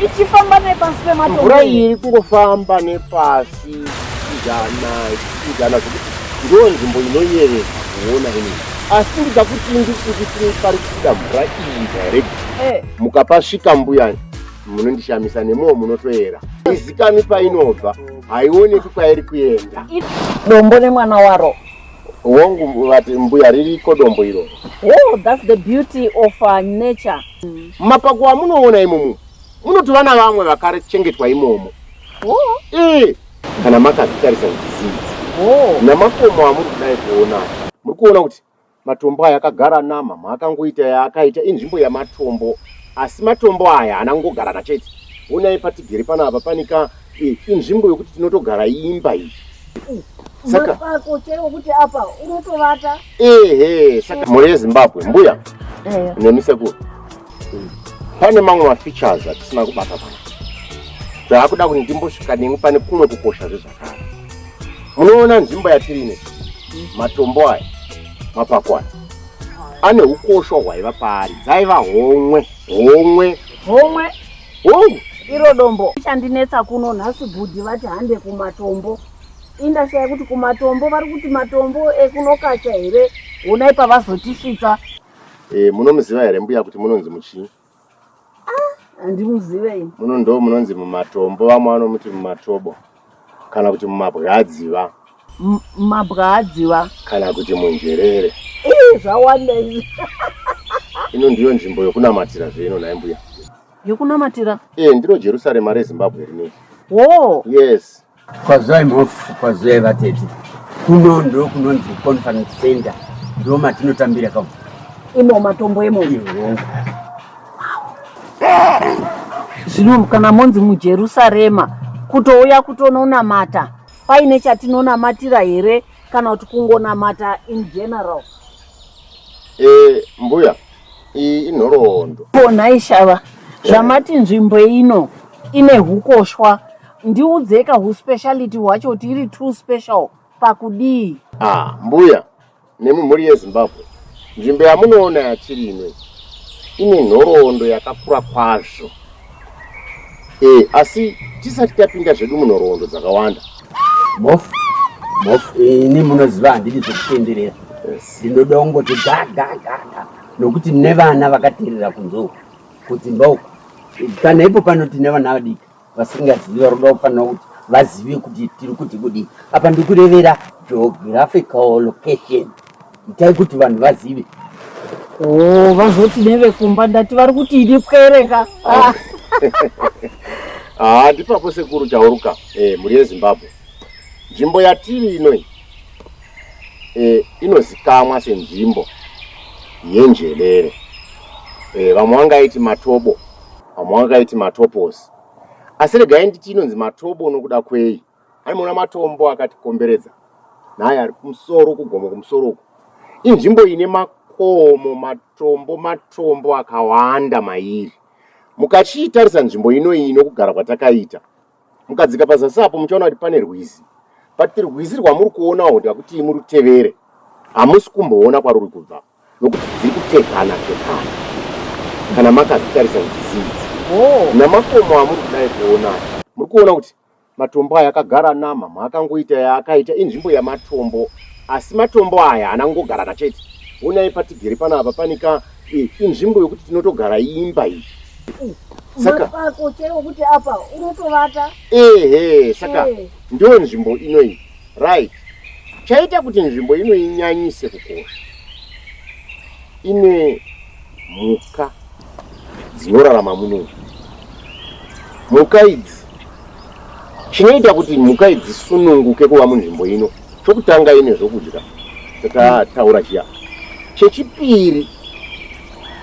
ichifamba nepasi pematombo mvura iyi iri kungofamba nepasi ichidana ichidana zvekuti ndiyo nzvimbo inoyevedza kuona ini asi ndida kuti ndikuti pari kubuda mvura iyi direct Eh, mukapasvika mbuya munondishamisa nemuwo munotoera izikani painobva haioneki kwairi kuenda dombo nemwana waro Hongu vati mbuya ririko dombo iro. Oh, that's the beauty of uh, nature. Mm. Mapako amunoona imomo munotova na vamwe vakachengetwa imomo. Oh. Eh, kana makazitarisa zvizizi. Oh. Namakomo amuri kudai kuona. Muri kuona kuti matombo aya akagara nama maakangoita yaakaita inzvimbo yamatombo asi matombo aya anangogarana chete. Onai patigere panapa panika inzvimbo yokuti tinotogara imba iyi saka ehe saka mhuri yezimbabwe mbuya nemi sekuru pane mamwe mafeatures atisina kubata pana zvaakuda kuti ndimbosvika nemi pane kumwe kukosha zvezvakare munoona nzvimbo yatiri ine matombo aya mapako aya ane ukosho hwaiva paari dzaiva homwe homwe homwe Hongu, iro dombo. Chandinetsa kuno nhasi bhudhi vati hande kumatombo. Indashaya kuti kumatombo vari kuti matombo ekunokacha here? Honai pavazotisvitsa. Eh, munomuziva here mbuya kuti munonzi muchinyi? Ah, handimuzive ini. Muno ndo munonzi mumatombo, vamwe vanomuti mumatobo. Kana kuti mumabwadziva. Mumabwadziva. Kana kuti munjerere. Ii zvawanda izvi. Ino ndiyo nzvimbo yokunamatira zve ino nhai mbuya. Yokunamatira? Eh, ndiro Jerusarema reZimbabwe rinei. Oh. Yes. Kwazai mhofu, kwazai vatete. Kuno ndo kunonzi conference center. Ndo matinotambira kamo. Imo matombo imomo. Iyo. Zvino kana monzi muJerusarema kutouya kutononamata, paine chatinonamatira here kana kuti kungonamata in general? Eh, mbuya, iyi inhoroondo. Ko nhai Shava, zvamati nzvimbo ino ine hukoshwa, ndiudzeka huspeciality hwacho kuti iri too special pakudii? Ah, mbuya, Nemi mhuri yeZimbabwe, nzvimbo yamunoona yatiri ino ine nhoroondo yakakura kwazvo. E, asi tisati tapinda zvedu munhoroondo dzakawanda. Bofu, bofu, ini munoziva handidi zvekutenderera. Ndinoda yes. kungoti gagagaga nokuti nevana vakaterera kunzou kudzimba uku kana ipo panoti nevana vadiki vasingazivi vari kuda kufanira kuti vazive kuti tiri kuti kudii apa ndikurevera geographical location itai kuti vanhu vazive oh, vazoti nevekumba ndati vari kuti ini pwereka ah. ah, ndipapo sekuru tauruka eh, mhuri yezimbabwe nzvimbo yatiri inoi eh, inozikamwa senzvimbo yenjelere eh, vamwe vangaiti matobo Amwaka iti matoposi. Asi regai nditi inonzi matobo nokuda kwei? Anoona matombo akatikomberedza naye ari kumusoro kugomo kumusoro uku. Inzvimbo ine makomo, matombo, matombo akawanda mairi. Mukachiitarisa nzvimbo ino iyi nokugara kwatakaita, mukadzika pazasi apo muchaona kuti pane rwizi. But rwizi rwamuri kuona uku kuti hakutii murutevere, hamusi kumboona kwaruri kubva. nokuti dziri kutevana tevana kana makazitarisa nzizi idzi namakomo amuri kudai kuona aya muri kuona kuti matombo aya akagara nama maakangoita yaakaita inzvimbo yamatombo asi matombo aya haana kungogarana chete onai patigere panapa pane ka e, inzvimbo yokuti tinotogara imba iyi saka pako chero kuti apa unotovata ehe saka Eh. ndiyo nzvimbo inoyi Right. Chaita kuti nzvimbo ino inyanyise kukosha ine mhuka dzinorarama muno. Mhuka idzi chinoita kuti mhuka idzi sununguke kuva munzvimbo ino chokutanga ine zvokudya tatataura chiya chechipiri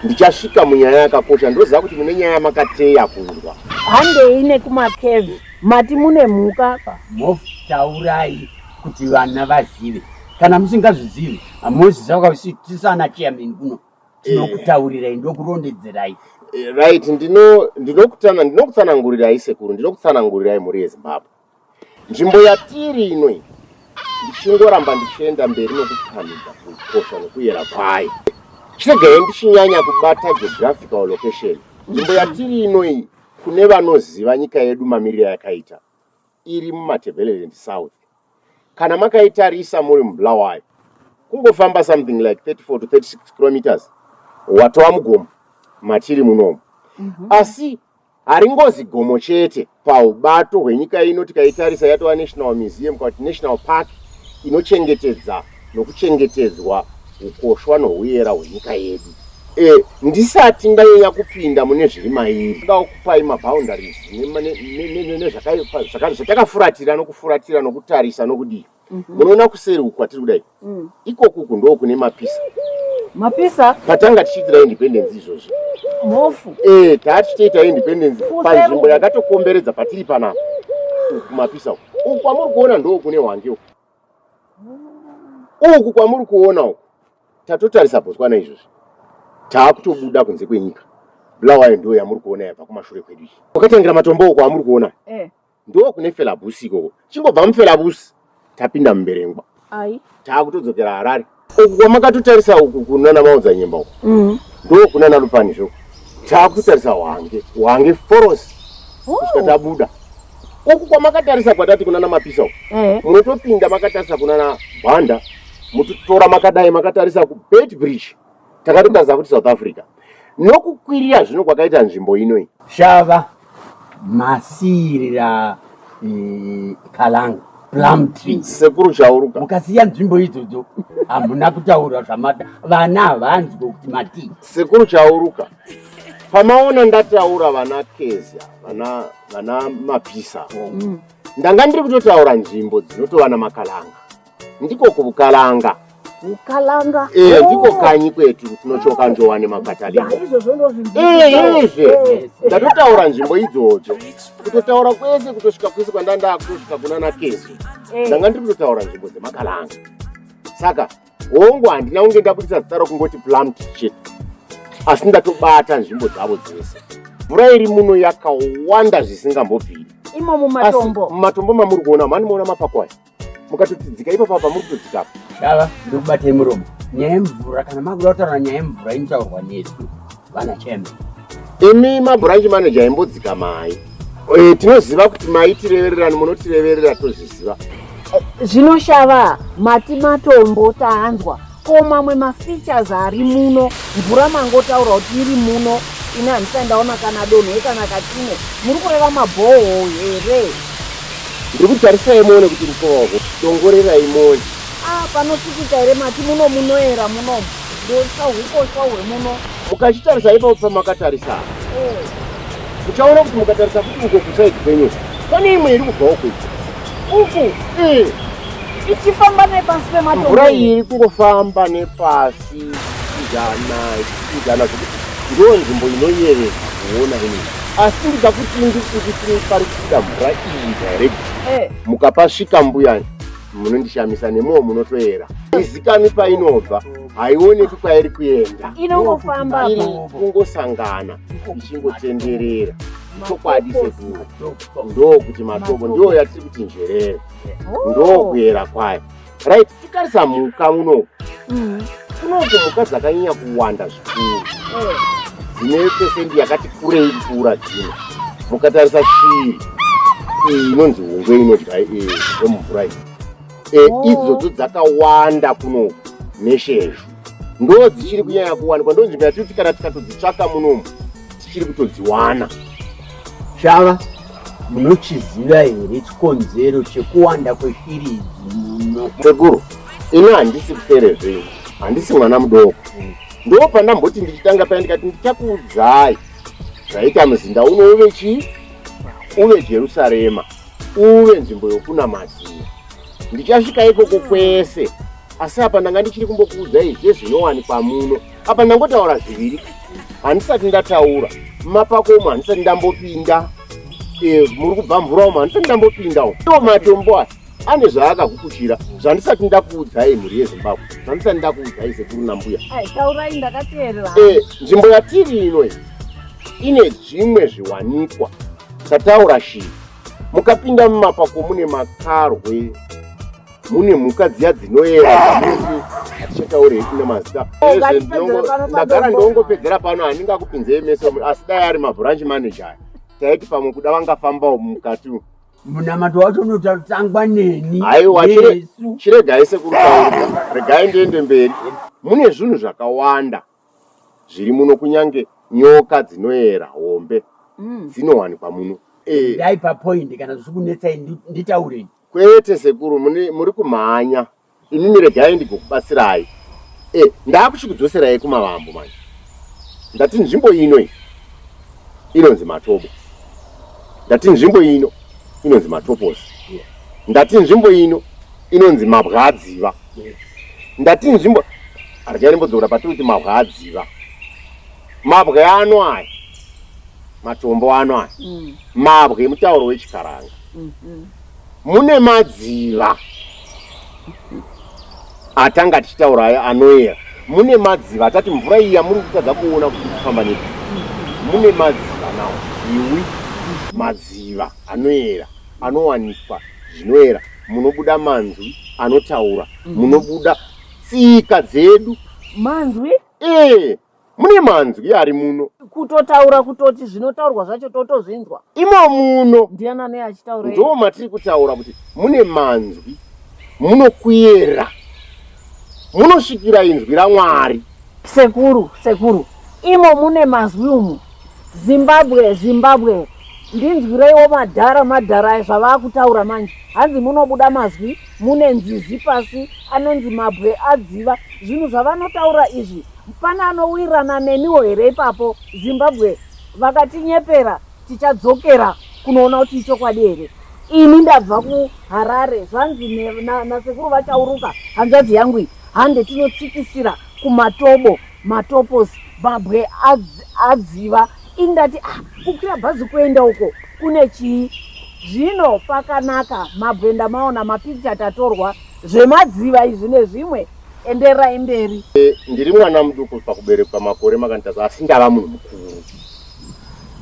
ndichasvika munyaya yakakosha ndoziva kuti mune nyaya makateya kunzwa handei nekumakeve Mati mune mhuka apa? Mhofu taurai kuti vana vazive. Kana musingazvizivi hamuzi saka usi tisana chairman kuno. Tinokutaurirai ndokurondedzerai. Eh, right ndino ndinokutana ndinokutsanangurirai sekuru ndinokutsanangurirai mhuri yezimbabwe nzvimbo yatiri ino iyi ndichingoramba ndichienda mberi nokupamhidza kukosha nokuyera kwayo chiregai ndichinyanya kubata geographical location nzvimbo yatiri ino iyi Kune vanoziva nyika yedu mamirire ayakaita iri muMatabeleland South, kana makaitarisa muri muBulawayo, kungofamba something like 34 to 36 kilometres watova mugomo matiri munomu. Asi haringozi gomo chete paubato hwenyika ino, tikaitarisa yatova National Museum kana kuti National Park inochengetedza nokuchengetedzwa ukoshwa nohuyera hwenyika yedu. E, ndisati ndanyanya kupinda mune zviri mairi, ndoda kukupai maboundaries nezvatakafuratira nokufuratira nokutarisa nokudii. Mhm. Munoona mm -hmm. kuseri uku kwatiri kudai mm. ikoku uku ndoo kune mapisa mapisa patanga tichiitira independence izvozvi mhofu e, taa tichitoita independence panzvimbo yakatokomberedza patiri panapa uku mapisa uku uku kwamuri kuona ndoo kune hwange uku uku kwamuri kuona uku tatotarisa botswana izvozvi taakutobuda kunze kwenyika bulawayo ndo yamuri kuona yabva kumashure kwedu iyi kwakatangira matombo uko amuri kuona eh. ndo kune felabusi ikoko chingobva mufelabusi tapinda mumberengwa taakutodzokera harare uku kwamakatotarisa uku kunana maunza nyemba uku mm. ndo kunana lupani zvo taakutotarisa wange wange forosi oh. kusvika tabuda uku kwamakatarisa kwatati kunana mapisa uku eh. munotopinda makatarisa kunana bhanda mutotora makadai makatarisa kubet bridge takatotaza kuti south africa nokukwirira zvino kwakaita nzvimbo ino iyi. Shava, masiirira eh, kalanga plum tree sekuru chauruka mukasiya nzvimbo idzodzo hamuna kutaura zvamada vana havanzwe kuti matii sekuru chauruka pamaona ndataura vana kezya vana vana mapisa ndanga ndiri kutotaura nzvimbo dzinotovana makalanga ndiko kubukalanga Ukalanga. Eh, oh. ndiko kanyi kwetu tinochoka njowa nemakatalika. Izvozvo ndozvinzi. Eh, izvi. Eh, Ndatotaura nzvimbo idzodzo. Kutotaura kwese kutosvika kwese kwandanda kutosvika kuna Nakezi. Eh. Ndanga ndiri kutotaura nzvimbo dzemakalanga. Saka hongu handina kunge ndabudisa zita rokungoti plum shit. Asi ndatobata nzvimbo dzavo dzese. Mvura iri muno yakawanda zvisingambobviri. Imo mumatombo. Mumatombo mamuri kuona mani muona mapako aya. mukatotidzika ipapa pamuri kutodzika apa dava ndikubatei muromo nyaya yemvura kana makuda kutaura nyaya yemvura inotaurwa nesu vana chembe imi mabhuranji maneja imbodzika mai eh, tinoziva kuti maitirevererani munotireverera tozviziva eh, zvinoshava mati matombo tanzwa ko mamwe mafeatures ari muno mvura mangotaura kuti iri muno ini handisai ndaona kana donhwe kana katine muri kureva mabhoho here ndiri kutarisai muone kuti mukoho dongorerai moni a ah, panosikita here mati muno munoera munomu ndosa ukosha hwemuno mukachitarisa ipapo pamakatarisa eh. muchaona kuti mukatarisa kuti uko kusaidi kwenyu pane imwe iri kubvawo kuita uku eh. ichifamba nepasi pematombo mvura iyi iri kungofamba nepasi ichijana ichijana zvekuti ndiyo nzvimbo inoyevedza kuona ini asi ndida kuti ndisindisiri pari kubuda mvura iyi direct eh. mukapasvika mbuya munondishamisa nemuwo munotoera izikani painobva haioneki kwairi kuenda inongofamba iri kungosangana ichingotenderera chokwadi sekuru ndokuti matobo ndiyo yatiri kuti njerere oh. ndokuyera kwayo right tikarisa mhuka unoku mm. kunoku mhuka dzakanyanya kuwanda zvikuru eh. dzine pesendi yakati kurei kupfuura dzino mukatarisa shiri iyi inonzi hungwe inodya yemumvura iyi e, oh. idzodzo dzakawanda kuno neshezvo ndo dzichiri kunyanya kuwanikwa ndo nzvimbo yatiri kuti kana tikatodzitsvaka munomu tichiri kutodziwana shava munochiziva here chikonzero chekuwanda kweshiri idzi muno sekuru ini handisi kupere zvenyu handisi mwana mudoko mm. ndo pandamboti ndichitanga paya ndikati ndichakuudzai zvaita muzinda uno uve chii uve jerusarema uve nzvimbo yokunamatira. Ndichasvika ikoko kwese, asi apa ndanga ndichiri kumbokuudzai zvezvinowanikwa muno. Apa ndangotaura zviviri, handisati ndataura mapako umo, handisati ndambopinda eh, muri kubva mvura umo, handisati ndambopinda umo. Iwo matombo aya ane zvaakakukuchira zvandisati ndakuudzai mhuri yezimbabwe zvandisati ndakuudzai sekuru nambuya taurai ndakateerera eh, nzvimbo yatiri ino ine zvimwe zviwanikwa Sataura shii. Mukapinda mumapako mune makarwe mune mhuka dziya dzinoera dzamuti hatichataure hedu nemazita ndagara ndongopedzera pano handingakupinzei meso asi dai ari mabranch manager aya taiti pamwe kuda vangafambawo mukati umu munamato wacho unotangwa neni aiwa chiregai sekuru regai ndiende mberi mune zvinhu zvakawanda zviri muno kunyange nyoka dzinoera hombe dzinowanikwa muno. Endai papoint kana zvichikunetsai nditaurei. Kwete sekuru muri kumhanya imimi regai ndigokubatsirai. Eh ndakuchikudzoserai kumavambo manje. Ndati nzvimbo ino iyi inonzi Matobo. Ndati nzvimbo ino inonzi Matoposi. Ndati nzvimbo ino inonzi Mabwadziva. ndati nzvimbo arikairimbodzora patikuti mabwa adziva mabwe ano aya matombo ano aya mm. mabwe mutauro wechikaranga mm, mm. mune madziva atanga tichitaura ayo anoyera mune madziva atati mvura iyi yamuri kutadza kuona kuti kufamba nei mune madziva nawo iwi madziva anoyera anowanikwa zvinoyera munobuda manzwi anotaura mm. munobuda tsika dzedu manzwi ee mune manzwi ari muno kutotaura kutoti zvinotaurwa zvacho totozvinzwa imo muno ndiana nei achitaura ndo matiri kutaura kuti mune manzwi munokuyera munosvikira inzwi ramwari sekuru sekuru imo mune mazwi umu zimbabwe zimbabwe Ndinzwireiwo madhara madhara aya zvavakutaura manje hanzi munobuda mazwi mune nzizi pasi anonzi mabwe adziva zvinhu zvavanotaura izvi pane anowirana neniwo here ipapo zimbabwe vakatinyepera tichadzokera kunoona kuti ichokwadi here ini ndabva kuharare zvanzi nasekuru vachauruka hanzvadzi yangu iyi hande tinotsikisira kumatobo Matoposi babwe adz, adziva ini ndati ah kukwira bhazi kuenda uko kune chii zvino pakanaka mabwe ndamaona mapicture tatorwa zvemadziva izvi nezvimwe enderai mberi e, ndiri mwana muduku pakuberekwa makore makanditaza asi ndava munhu mukuru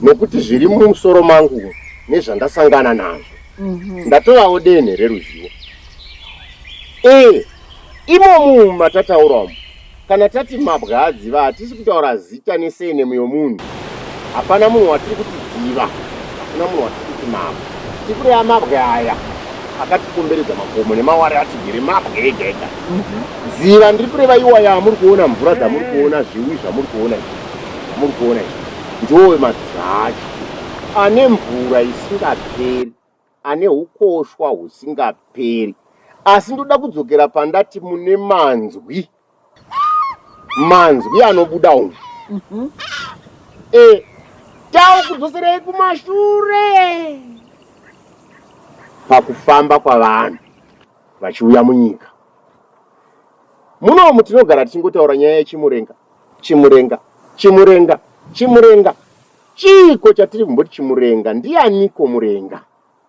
nokuti zviri mumusoro mangu nezvandasangana nazvo mm -hmm. ndatovawo denhe reruzivo e imomu matatauramu Kana tati mabwe adziva hatisi kutaura zita nesenemu yomunhu. Hapana munhu watiri kuti dziva, hakuna munhu watiri kuti mabwe. Tiri kureva mabwe aya akatikomberedza makomo nemawari atigere mabwe ega ega. Dziva ndiri kureva iwaya amuri kuona mvura dzamuri kuona zviwi zvamuri kuona izvi zvamuri kuona izvi ndowe madziva acho ane mvura isingaperi ane hukoshwa husingaperi asi ndoda kudzokera pandati mune manzwi manzwi anobuda umu mm -hmm. e eh, tau kudzoserei kumashure pakufamba kwavanhu vachiuya munyika munomu tinogara tichingotaura nyaya yechimurenga chimurenga chimurenga chimurenga Chiiko chatiri kumboti chimurenga ndianiko murenga?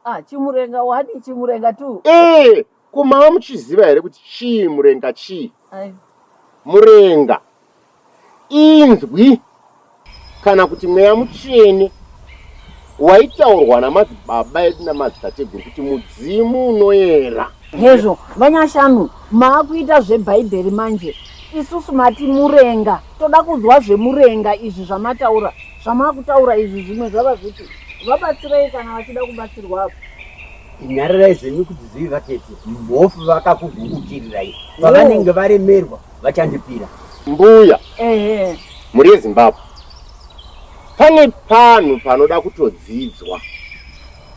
Ah chimurenga wani chimurenga tu. Eh ko mava muchiziva here kuti chii murenga chii? Ai. Murenga inzwi kana kuti mweya mutsvene waitaurwa namadzibaba edu namadzitateguru kuti mudzimu unoyera. Hezvo vanyashanu maakuita zvebhaibheri manje isusu mati murenga toda kuzwa zvemurenga izvi zvamataura zvamakutaura izvi zvimwe zvava zviti vabatsirei kana vachida kubatsirwa apo nyarirai zvenyu kuti zivi vatete mhofu vakakugukutirirai pavanenge varemerwa vachandipira mbuya ehe muri yezimbabwe pane panhu panoda kutodzidzwa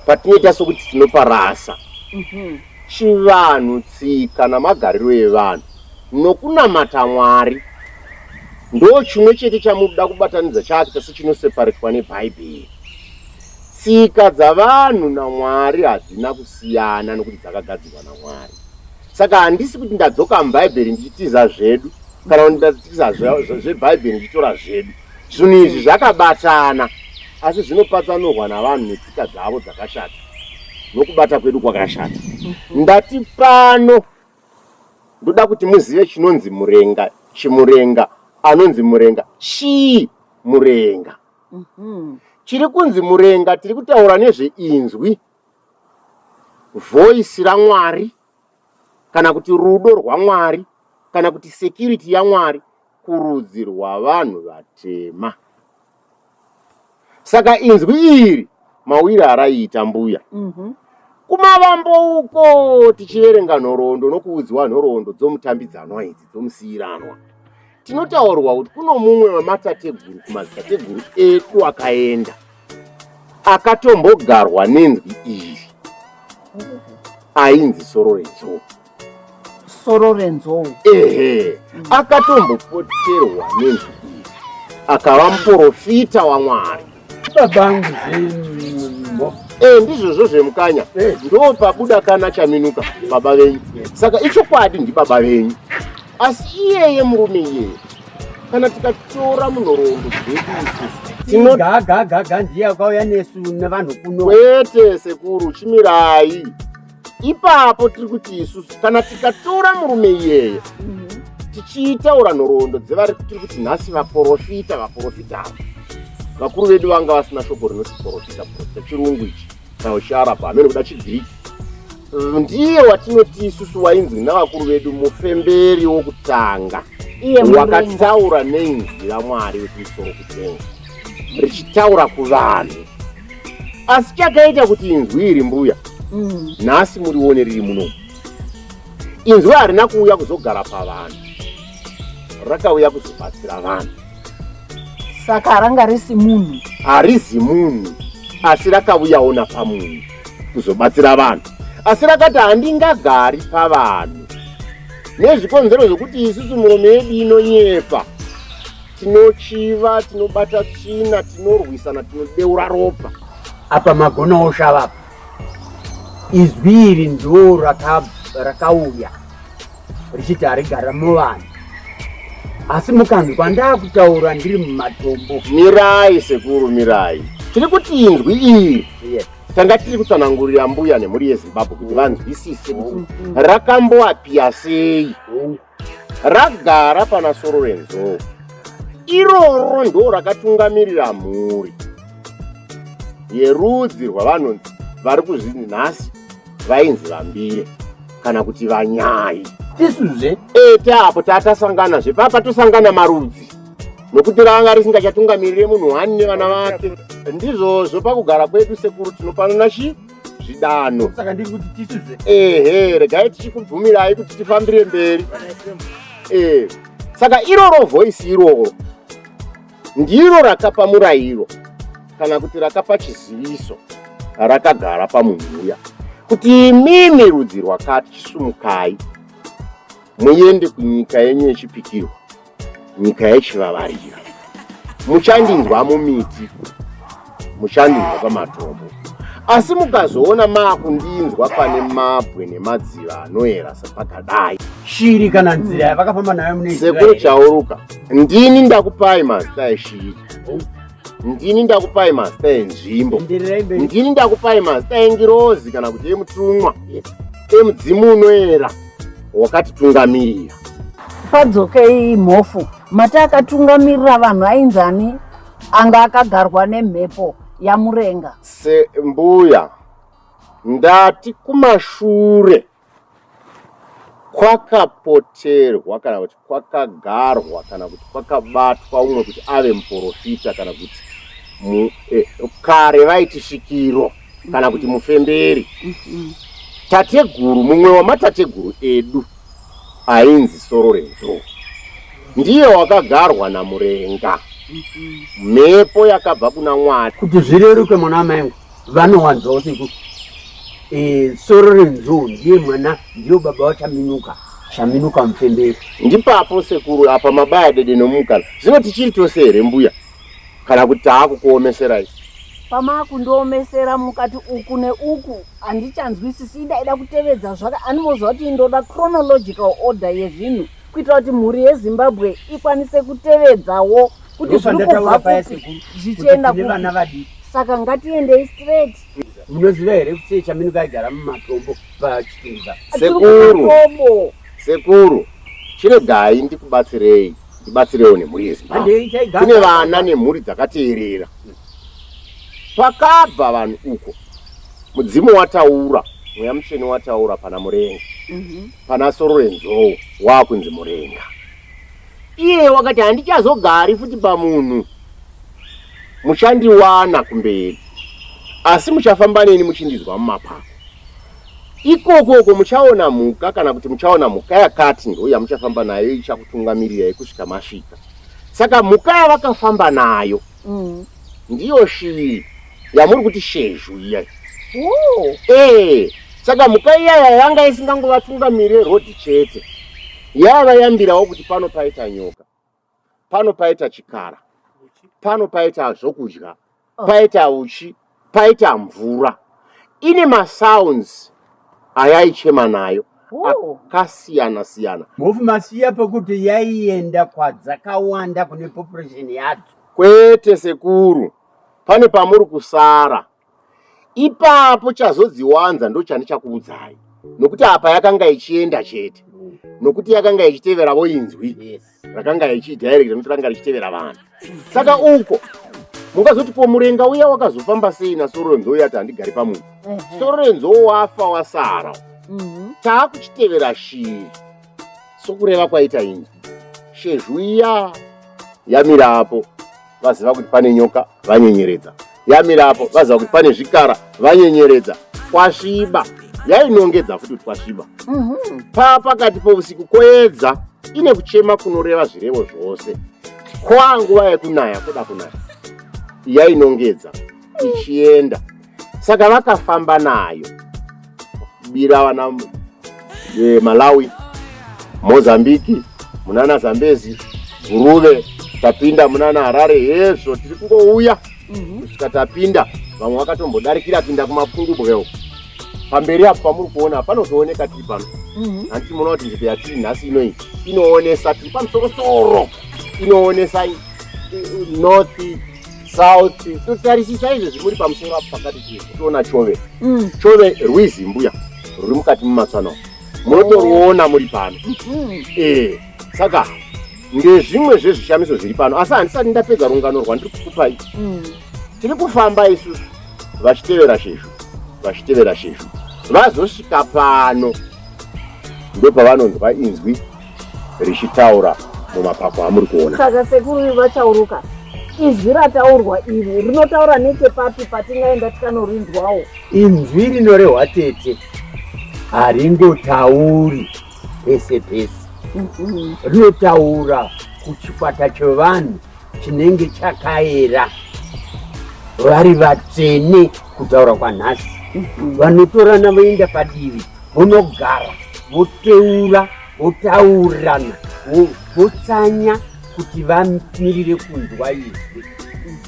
Patinoita sokuti tinoparasa mhm. chivanhu, tsika namagariro evanhu nokunamata Mwari, ndo chimwe chete chamunoda kubatanidza chaakita sechinoseparetwa neBhaibheri. Tsika dzavanhu naMwari hadzina kusiyana nokuti dzakagadzirwa naMwari. Saka handisi kuti ndadzoka muBhaibheri ndichitiza zvedu kana kuti ndatiza zvebhaibheri ndichitora zvedu zvinhu izvi zvakabatana asi zvino patsanurwa navanhu netsika dzavo dzakashata nokubata kwedu kwakashata mhm. ndati pano ndoda kuti muzive chinonzi murenga chimurenga anonzi murenga chii murenga mhm. chiri kunzi murenga tiri kutaura nezveinzwi voisi ramwari kana kuti rudo rwamwari kana kuti security yamwari kurudzi rwavanhu vatema saka inzwi iri mawira araiita mbuya mhm. kumavambo uko tichiverenga nhoroondo nokuudziwa nhoroondo dzomutambidzanwa idzi dzomusiyiranwa tinotaurwa kuti kuno mumwe wematateguru kumadzitateguru edu akaenda akatombogarwa nenzwi iri ainzi soro renzoka soro renzou ehe akatombopoterwa nezvi akava muporofita wamwari babangu zvinhu e ndizvozvo zvemukanya eh. ndo pabuda kana chaminuka baba venyu saka ichokwadi ndibaba venyu asi iyeye murume iyeye kana tikatora munhoroondo dzedu isusu gagagaga ndiye akauya nesu nevanhu kuno kwete sekuru chimirai ipapo tiri kuti isusu kana tikatora murume iyeye mhm. tichiitaura nhoroondo dzevari tiri kuti nhasi vaporofita vaporofita ava vakuru vedu vanga vasina shoko rinoti porofita porofita chirungu ichi nausharapo hameno kuda chigiriki ndiye watinoti isusu wainzwi navakuru vedu mufemberi wokutanga wakataura neinzwi ramwari wekumusoro kutenga richitaura kuvanhu asi chakaita kuti inzwi iri mbuya mm. nhasi murione riri muno inzwi harina kuuya kuzogara pavanhu rakauya kuzobatsira vanhu saka ranga risi munhu harizi munhu asi rakauyawo napamunhu kuzobatsira vanhu asi rakati handingagari pavanhu nezvikonzero zvokuti isusu murume yedu inonyepa tinochiva tinobata tsvina tinorwisana tinodeura ropa apa magona oshava apa izwi iri ndo rakauya richiti harigara muvanhu asi mukanzwa ndakutaura ndiri mumatombo mirai sekuru mirai tiri kuti inzwi iri tanga tiri kutsanangurira mbuya nemhuri yezimbabwe kuti vanzwisise rakamboapia sei ragara pana soro renzou iroro ndo rakatungamirira mhuri yerudzi rwavanonzi vari kuzvinzi nhasi vainzi vambire kana kuti vanyai tisuzve ete apo tatasangana zve papa tosangana marudzi nokuti ranga risingachatungamirire munhu wani nevana vake ndizvozvo pakugara kwedu sekuru tinopanana chii zvidanho saka ndiri kuti tisize ehe regai tichikubvumirai kuti tifambire mberi eh saka iroro voice iroro ndiro rakapa murayiro kana kuti rakapa chiziviso rakagara pamunhu uya kuti imimi rudzi rwakati chisumukai muende kunyika yenyu yechipikirwa nyika yechivavarira muchandinzwa mumiti muchandinzwa pamatombo asi mukazoona maakundinzwa pane mabwe nemadziva anoera sepakadai shiri kana nzira yavakafamba nayo mune sekuru chauruka ndini ndakupai mazita eshiri ndini ndakupai mazita enzvimbo ndini ndakupai mazita engirozi kana kuti emutumwa emudzimu unoera yes. wakatitungamirira. Padzokei Mhofu, mati akatungamirira vanhu ainzi ani anga akagarwa nemhepo yamurenga? Sembuya, ndati kumashure kwakapoterwa kana kuti kwakagarwa kana kuti kwakabatwa umwe kuti ave muporofita kana kuti eh, kare vaiti svikiro kana kuti mm-hmm. mufemberi mm-hmm. tateguru mumwe wamatateguru edu ainzi soro renzou ndiye wakagarwa namurenga mm-hmm. mhepo yakabva kuna mwari kuti zvireruke mwana wamaingu vanowanzwawo seku e, soro renzou ndiye mwana ndiyo baba wachaminuka chaminuka mufemberi ndipapo sekuru apa mabaya dede nomukana zvino tichiri tose here mbuya kana kuti taakukuomeserai pamaakundiomesera mukati uku neuku handichanzwisisi idaida kutevedza zvaka animoziva kuti indoda chronological order yezvinhu kuitira kuti mhuri yezimbabwe ikwanise kutevedzawo kuti zviri kubva kupi zvichienda kuvana vadii saka ngatiendei straight munoziva here kuti chamino kaigara mumatombo pachitunza sekuru sekuru chiregai ndikubatsirei ndibatsirewo nemhuri yezimbabwe kune vana nemhuri dzakateerera pakabva vanhu uko mudzimu wataura mweya mutsvene wataura pana murenga mhm. pana soro renzou waakunzi murenga Iye wakati handichazogari futi pamunhu muchandiwana kumberi asi muchafamba neni muchindizwa mumapako ikoko uko muchaona mhuka kana kuti muchaona mhuka yakati ndo yamuchafamba nayo ichakutungamirirei kusvika masvika saka mhuka yavakafamba nayo mm. ndiyo shiri yamuri kuti shezhu iya oh. ee eh, saka mhuka iyaya yanga isingangovatungamirire rodhi chete yavayambirawo kuti pano paita nyoka pano paita chikara pano paita zvokudya oh. paita uchi paita mvura ine masounds ayaichema nayo oh. akasiyana siyana mhofu masiya pekuti yaienda kwadzakawanda kune population yadzo kwete sekuru Pane pamuri kusara ipapo chazodziwanza ndochandichakuudzai nokuti apa yakanga ichienda chete nokuti yakanga ichitevera voinzwi rakanga ichidirecta nokuti ranga richitevera vanhu saka uko mungazoti po murenga uya wakazofamba sei nasororenzo uya ti handigari pamunhu sororenzo wafa wasara mhm. taakuchitevera shiri sokureva kwaita inzwi shezhu iya yamirapo vaziva kuti pane nyoka vanyenyeredza yamira apo vaziva kuti pane zvikara vanyenyeredza kwasviba yainongedza futi kuti kwasviba mhm. paa pakati pousiku koedza ine kuchema kunoreva zvirevo zvose kwaa nguva yekunaya kuda kunaya yainongedza ichienda saka vakafamba nayo bira vana e, malawi mozambiki munana zambezi guruve tapinda munana harare hezvo tiri kungouya mhm. kusvika mm -hmm. tapinda vamwe vakatombodarikira pinda kumapungubwe uko pamberi apo pamuri kuona panotooneka tiri pano mhm. handiti muona kuti nzvimbo yatiri nhasi inoi inoonesa tiri pamusorosoro inoonesa north sauti totarisisa izvezvi muri pamusoro apo pakati chii toona chove mm. chove rwizi mbuya ruri mukati mumatswana munotoruona muri pano mm-hmm. ee saka ndezvimwe zvezvishamiso zviri pano asi handisati ndapedza rungano rwandiri kukupai mm. tiri kufamba isusu vachitevera shezvo vachitevera shezvo vazosvika pano ndopavanonzwa inzwi richitaura mumapapu amuri kuona saka sekuru vachauruka izwi rataurwa iri rinotaura nechepapi patingaenda tikanorinzwawo inzwi rinorehwa tete haringotauri pese pese mhm. rinotaura kuchikwata chevanhu chinenge chakaera vari vatsvene kutaura kwanhasi mhm. vanotorana voenda padivi vonogara voteura votaurirana votsanya kuti vamirire kunzwa izwi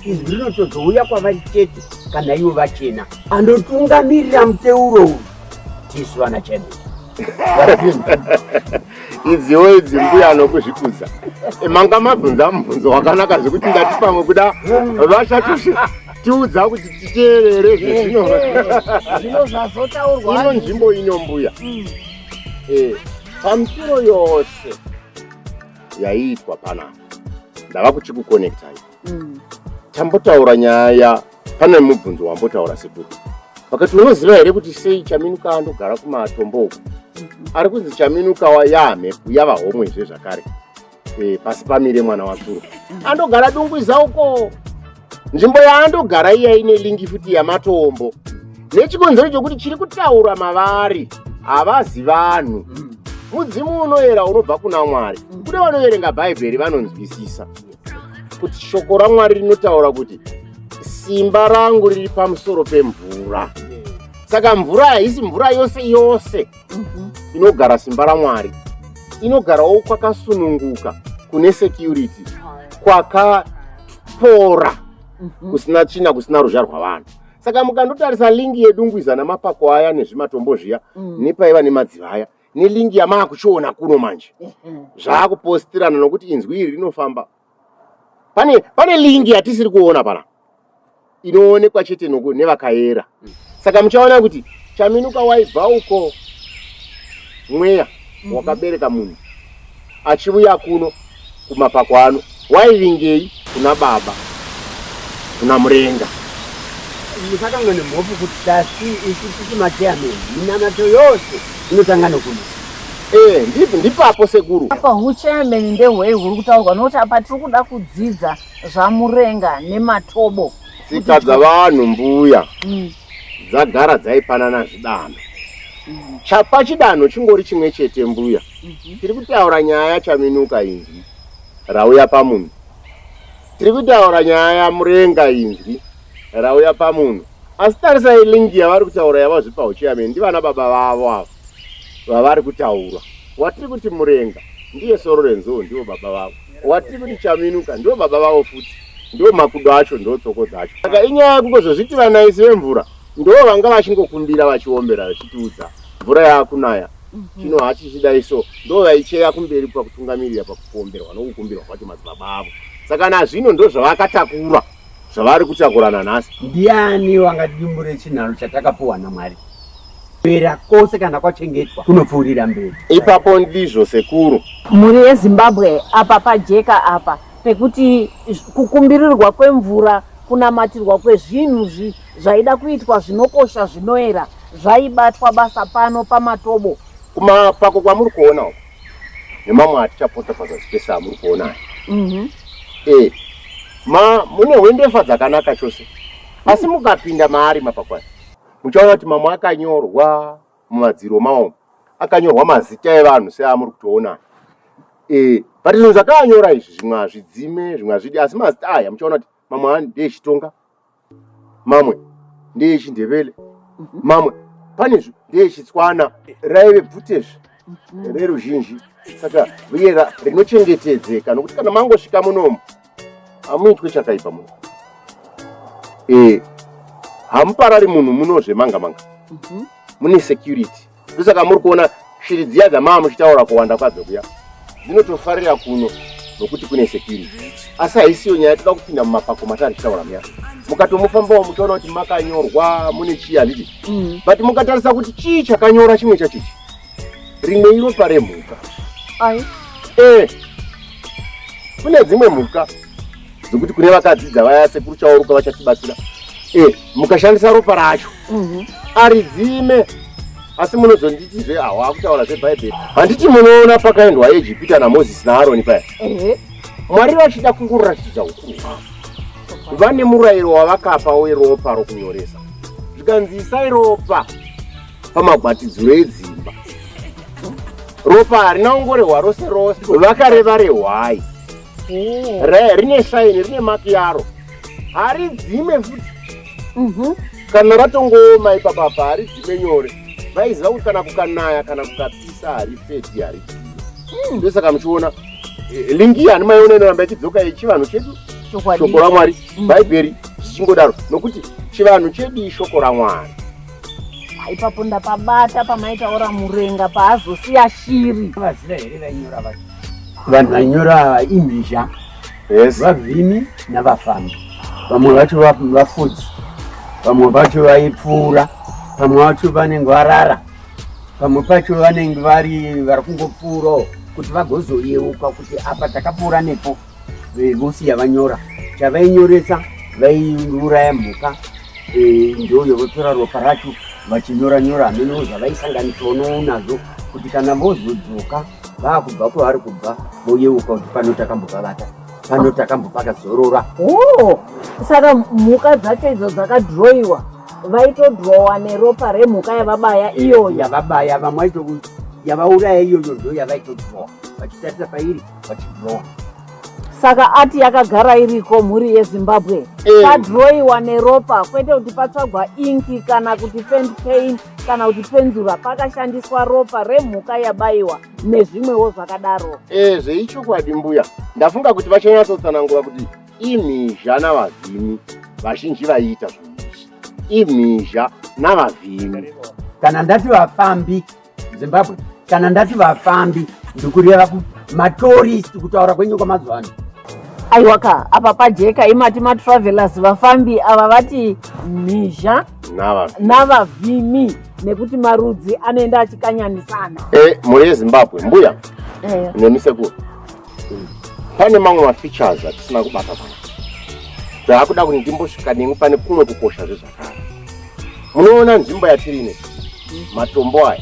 izwi rinotozouya kwavari chete kana ivo vachena anotungamirira muteuro uyu tisu vana chene idziwo idzi mbuya anokuzvikudza manga mabvunza mubvunzo wakanaka zvekuti ndati pamwe kuda vachatoshi tiudza kuti titeerere zvezvino zvino zvazotaurwa ino nzvimbo ino mbuya mm. eh, pamusiro yose yaiitwa panapa ndava kuchikukonektai mm. tambotaura nyaya Pane mubvunzo wambotaura sekuru vakati unoziva here kuti sei chaminuka andogara kumatombo uku ari kunzi chaminuka wayamhepu yava homwe zve zvakare e, pasi pamire mwana watsuro andogara dungwiza uko nzvimbo yaandogara iya ine lingi futi yamatombo nechikonzero chokuti chiri kutaura mavari havazi vanhu mudzimu unoyera unobva kuna mwari kune vanoverenga bhaibheri vanonzwisisa kuti shoko ramwari rinotaura kuti simba rangu riri pamusoro pemvura saka mvura haisi mvura yose yose mhm. inogara simba ramwari inogarawo kwakasununguka kune security kwakapora mhm. kusina tsvina kusina ruzha rwavanhu saka mukandotarisa lingi yedungwiza namapako aya nezvimatombo zviya mm. nepaiva nemadziva aya nelingi yamaakuchiona kuno manje mhm. zvaakupostirana nokuti inzwi iri rinofamba pane pane lingi yatisiri kuona pana inoonekwa chete noku nevakayera saka muchaona kuti chaminuka waibva uko mweya mhm. wakabereka munhu achivuya kuno kumapako ano waivingei kuna baba kuna murenga musatanga nemhofu kuti tasi isu tisi mateyamei minamato yose inotanga nokuno ee eh, ndipi ndipapo sekuru apa hucheyameni ndehwei huri kutaurwa nokuti apa tiri kuda kudzidza zvamurenga nematobo tsika dzavanhu mbuya mm. dzagara dzaipanana zvidanho mm. chapa chidanho chingori chimwe chete mbuya mhm. tiri kutaura nyaya yachaminuka inzwi rauya pamunhu tiri kutaura nyaya yamurenga inzwi rauya pamunhu asi tarisai lingi yavari kutaura yavazvipa uchiyameni ndivana baba vavo avo vavari kutaura watiri kuti murenga ndiye soro renzou ndivo baba vavo watiri kuti chaminuka ndivo baba vavo futi ndivo makudo acho ndivo tsoko dzacho saka inyaya yekungozozviti vanaisi vemvura ndivo vanga vachingokumbira vachiombera vachitiudza mvura yaakunaya Mhm. chino hachichidai so ndo vaicheya kumberi pakutungamirira pakukomberwa nokukumbirwa kwacho madzibaba avo saka nazvino ndo zvavakatakura zvavari kutakurana nhasi ndiani wangadimbure chinharo chatakapuwa namwari pera kose kana kwachengetwa kunopfuurira mberi ipapo ndizvo sekuru mhuri yezimbabwe apa pajeka apa pekuti kukumbirirwa kwemvura kunamatirwa kwezvinhu Zvaida kuitwa zvinokosha zvinoera zvaibatwa basa pano pamatobo. Kumapako kwamuri kuona uko nemamwe atichapota pazasi pese amuri kuona aya mm -hmm. e, ma mune hwendefa dzakanaka chose asi mukapinda maari mapako aya muchaona kuti mamwe akanyorwa mumadziro mawo akanyorwa mazita evanhu seamuri kutoona e, but zvinhu zvakaanyora izvi zvimwe hazvidzime zvimwe hazvidi asi mazita aya muchaona kuti mamwe ndeechitonga mamwe ndeyechindevele mhm. mamwe panezvo ndeyechitswana raive bvutezve mhm. reruzhinji saka uye rinochengetedzeka nokuti kana mangosvika munomu hamuitwe chakaipa muno e, hamuparari munhu munozve manga manga mhm. mune security ndosaka muri kuona shiri dziya dzamava muchitaura kuwanda kwadzo kuya dzinotofarira kuno nokuti kune security asi haisiyo nyaya toda kupinda mumapako matari tichitaura muya mukatomufambawo muchaona kuti makanyorwa mune chii handiti mm. but mukatarisa kuti chii chakanyora chimwe chachichi rimwe iropa remhuka ai e kune dzimwe mhuka dzekuti kune vakadzidza vaya sekuru chaoruka vachatibatsira e mukashandisa ropa racho mhm. aridzime asi munozonditi zve awa akutaura zvebhaibheri handiti munoona pakaendwa ejipita namozisi naaroni paya mwari vachida kungoratidza ukuru hwavo vane murayiro wavakapa weropa rokunyoresa zvikanzi isai ropa pamagwatidziro edzimba ropa harina ungorehwa rose rose vakareva rehwai oh. re rine shaini rine maki yaro haridzime futi mhm. kana ratongooma ipapapa haridzime nyore vaiziva kuti kana kukanaya kana kukapisa haripeti haridzime hmm. ndosaka muchiona eh, lingi iyi handimaiona inoramba ichidzoka yechivanhu chedu shoko ramwari mm. bhaibheri zvichingodaro nokuti chivanhu chedu ishoko ramwari ipapo ndapabata pamaitaura murenga paazosiya shiri vaziva here vainyora vacho vanhu vanyora imhizha yes. vavhimi navafambi vamwe vacho vafudzi vamwe vacho vaipfuura vamwe vacho vanenge varara vamwe pacho vanenge vari vari kungopfuurawo kuti vagozoyeuka kuti apa takapfuura nepo eh, vosi yavanyora chavainyoresa vaiuraya mhuka eh, ndoyo votora ropa racho vachinyora nyora hameno zvavaisanganisawo nounazvo kuti kana vozodzoka vaakubva kwavari kubva voyeuka kuti pano takambovavata pano takambopaka zorora oh, saka mhuka dzacho idzo dzakadhiroiwa vaitodhirowa neropa remhuka yavabaya iyoyo yavabaya vamwe vaito yavauraya iyoyo ndo yavaitodhirowa vachitarisa pairi vachiblowa saka ati yakagara iriko mhuri yezimbabwe eh. padroiwa neropa kwete kuti patsvagwa inki kana kuti fend pain kana kuti penzura pakashandiswa ropa remhuka yabaiwa nezvimwewo zvakadaro e zveichokwadi mbuya ndafunga kuti vachanyatsotsanangura kuti imhizha navavhimi vazhinji vaiita zvinhu izvi imhizha navavhimi kana ndati vafambi Zimbabwe kana ndati vafambi ndikureva matorist kutaura kwenyu kwamazuva ano aiwaka apa pajeka imati matravelers vafambi ava vati mhizha navavhimi nekuti marudzi anoenda achikanyanisana e, mhuri yezimbabwe mbuya e. nemisekuru pane mamwe mafeatures atisina kubata pano zvaakuda kuti ndimbosvika nemi pane kumwe kukosha zvezvakara munoona nzvimbo yatiri ine matombo aya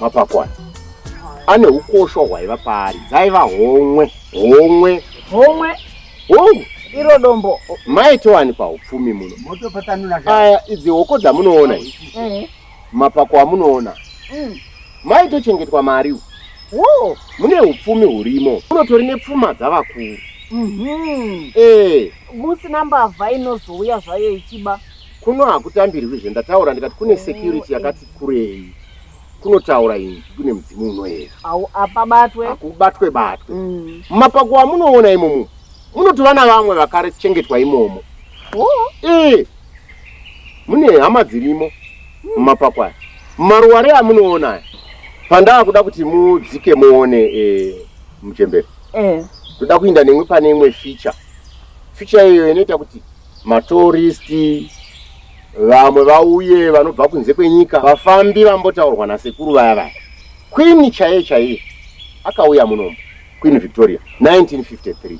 mapako aya ane ukosha hwaiva paari dzaiva homwe homwe homwe homwe iro dombo maitowanikwa upfumi muno aya idzi hoko dzamunoona Mapako amunoona mm. maitochengetwa mari wo mune upfumi hurimo unotori nepfuma dzavakuru mm -hmm. e. musina mbavha inozouya zvayo ichiba kuno hakutambirwi zve ndataura ndikati kune security yakati kurei kunotaura inzi kune mudzimu unoera apabatwe akubatwe batwe mm. mumapako amunoona imomo munotova navamwe vakarechengetwa imomo Oh, eh. Mune hama dzirimo mumapako aya. Maruware amunoona aya. Pandaa kuda kuti mudzike muone eh, muchembere. Eh. Toda kuinda nemwe pane imwe feature. Feature iyo inoita kuti matoristi vamwe vauye vanobva kunze kwenyika vafambi vambotaurwa nasekuru vaya vaya. Queen chaiye chaiye akauya munomu. Queen Victoria 1953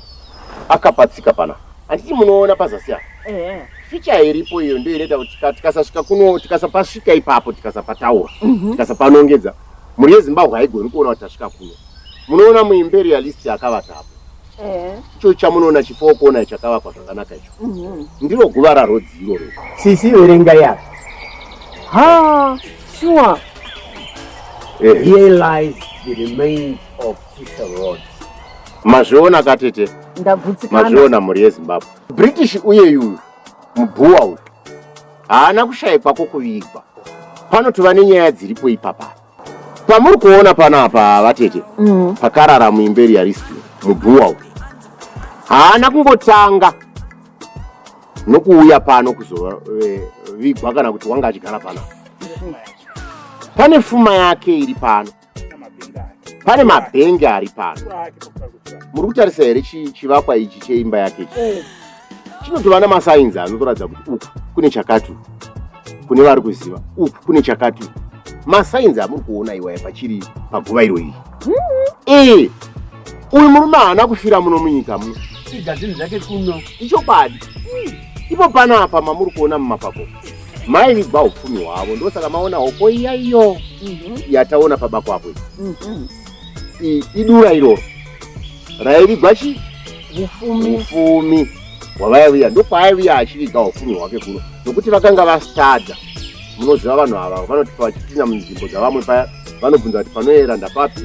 akapa tsika pana handiti munoona pazasi apa eh. ficha iripo iyo ndiyo inoita kuti tikasasvika kuno tikasapasvika ipapo tikasapataura mhm. tikasapanongedza mhuri yezimbabwe haigoni kuona kuti tasvika kuno munoona muimperialist akavata apo eh. icho chamunoona chifowo kuona chakavakwa zvakanaka icho mhm. ndiro guva rarodzi iroro sisi verenga yaro ha shuwa eh. here lies the remains Mazviona katete, mazviona mhuri yeZimbabwe. British uye uyu mubhuwa uyu haana kushaikwa kwokuvigwa. Pano tova nenyaya dziripo ipapa. Pamuri kuona panapa vatete, mm. pakarara muimberi yaristi mubhuwa uyu haana kungotanga nokuuya pano kuzovigwa kana kuti wanga achigara pano. Pane fuma yake iri pano. pane mabhenge ari pano muri kutarisa here chivakwa ichi cheimba yake ichi eh. chinotova namasainzi anotoratidza kuti uku kune chakati kune vari kuziva uku kune chakati masainzi amuri kuona iwaya pachiri paguva iro iri ee eh, uyu murume haana kufira muno munyika muno ichokwadi ipo panapa mamuri kuona mumapako mai vibva upfumi hwavo ndosaka maona hoko iya iyo mhm. yataona paba kwapo mhm. idura iroro raivigwa chi ufumi hwavaiviya ndokwaiviya achiviga ufumi hwake kuno nokuti vakanga vastadza munoziva vanhu ava vanoti vachipinda munzvimbo dzavamwe paya vanobvunza kuti panoyera ndapapi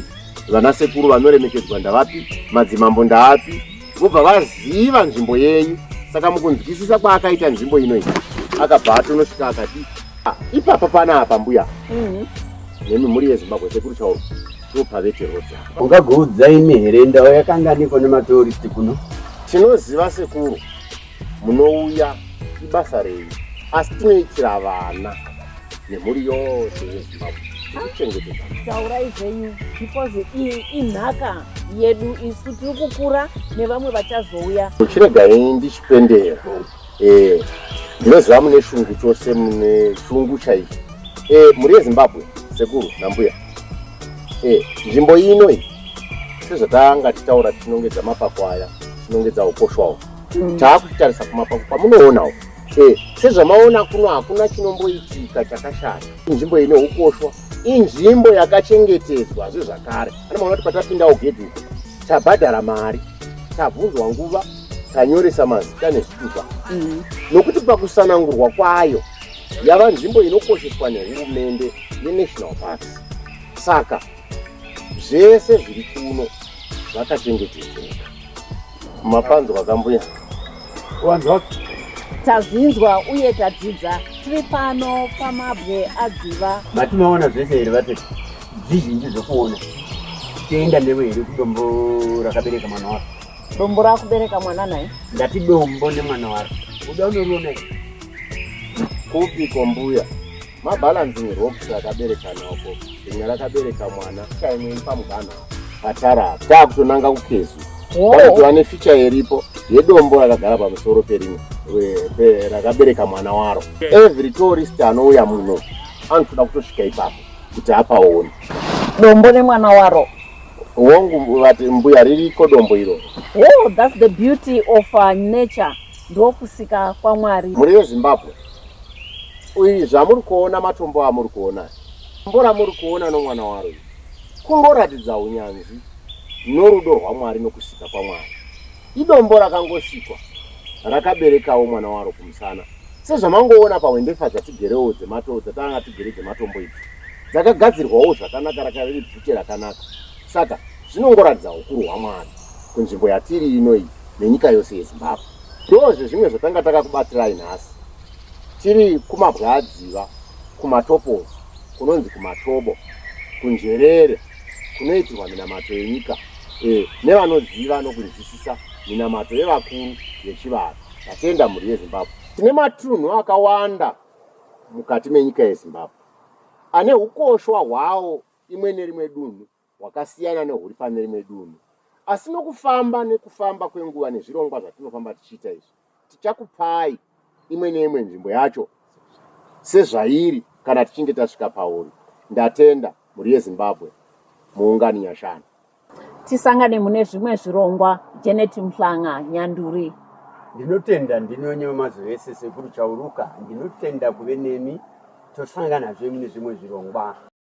vanasekuru vanoremekedzwa ndavapi madzimambo ndaapi vobva vaziva nzvimbo yenyu saka mukunzwisisa kwaakaita nzvimbo ino iyi akabva atonosvika akati ah, ipapa panapa mbuya mhm. nemi mhuri yezimbabwe sekuru chauro ndopaveterwodza ungagoudza imi here ndau yakanganiko nematourist kuno tinoziva sekuru munouya ibasa renyu asi tinoitira vana nemhuri yose yezimbabwe tichengetedza taurai zvenyu because iyi inhaka yedu isu tiri kukura nevamwe vachazouya chiregai ndichipendera eh, ndinoziva mune shungu chose mune shungu chaicho eh, mhuri yezimbabwe sekuru nambuya eh, nzvimbo ino iyi sezvatanga titaura tinongedza mapakwaya tinongedza ukoshwa uko mm. taakutarisa kumapako kwamunoona uko eh, sezvamaona kuno hakuna chinomboitika chakashata inzvimbo ine ukoshwa inzvimbo yakachengetedzwa zve zvakare ana maona kuti patapindawo gedhi uko tabhadhara mari tabvunzwa nguva tanyoresa mazita nezvitupa mm. nokuti pakusanangurwa kwayo yava nzvimbo inokosheswa nehurumende yenational parks saka zvese zviri kuno zvakachengetedzeka mapanzwa kambuya wanzwa tazvinzwa uye tadzidza tiri pano pamabwe adziva matinoona zvese here vati zvizhinji zvekuona tienda newe here kudombo rakabereka mwana waro dombo rakubereka mwana naye ndati dombo nemwana waro uda unoriona kupi kwambuya mabalancing rocks akabereka noko rimwe rakabereka mwana kaimweni pamuganho patara apa taakutonanga kukezu kuti vane ficha iripo yedombo rakagara pamusoro perimwe rakabereka mwana waro every tourist anouya muno anotoda kutosvika ipapo kuti apaone dombo nemwana waro wongu vati mbuya ririko dombo iroro oh, that's the beauty of uh, nature ndokusika kwamwari muri vezimbabwe Uyu zvamuri kuona matombo amuri kuona mbora muri kuona nomwana waro uyu kungoratidza unyanzvi norudo rwamwari nokusika kwamwari idombo rakangosikwa rakaberekawo mwana waro kumusana sezvamangoona pahwendefa dzatigerewo dzemato dzatanga tigere dzematombo idzi dzakagadzirwawo zvakanaka rakariri bvute rakanaka saka zvinongoratidza ukuru hwamwari kunzvimbo yatiri ino iyi nenyika yose yezimbabwe Ndozve zvimwe zvatanga takakubatirai nhasi. Tiri kuMabwadziva, kuMatopozi, kunonzi kuMatobo, kuNzverere, kunoitirwa minamato yenyika e, nevanoziva nokunzwisisa minamato yevakuru yechivanhu. Tatenda mhuri yeZimbabwe. Tine matunhu akawanda mukati menyika yeZimbabwe ane ukoshwa hwawo imwe nerimwe dunhu hwakasiyana nehuri pane rimwe dunhu. Asi nokufamba nekufamba kwenguva nezvirongwa zvatinofamba tichiita izvi, tichakupai imwe neimwe nzvimbo yacho sezvairi kana tichinge tasvika pauri. Ndatenda mhuri yeZimbabwe muungani nyashanu. Tisangane mune zvimwe zvirongwa. Janet Mhlanga, Nyanduri. Ndinotenda ndinonye wemazuva ese sekuru Chauruka. Ndinotenda kuve nemi tosanganazve mune zvimwe zvirongwa.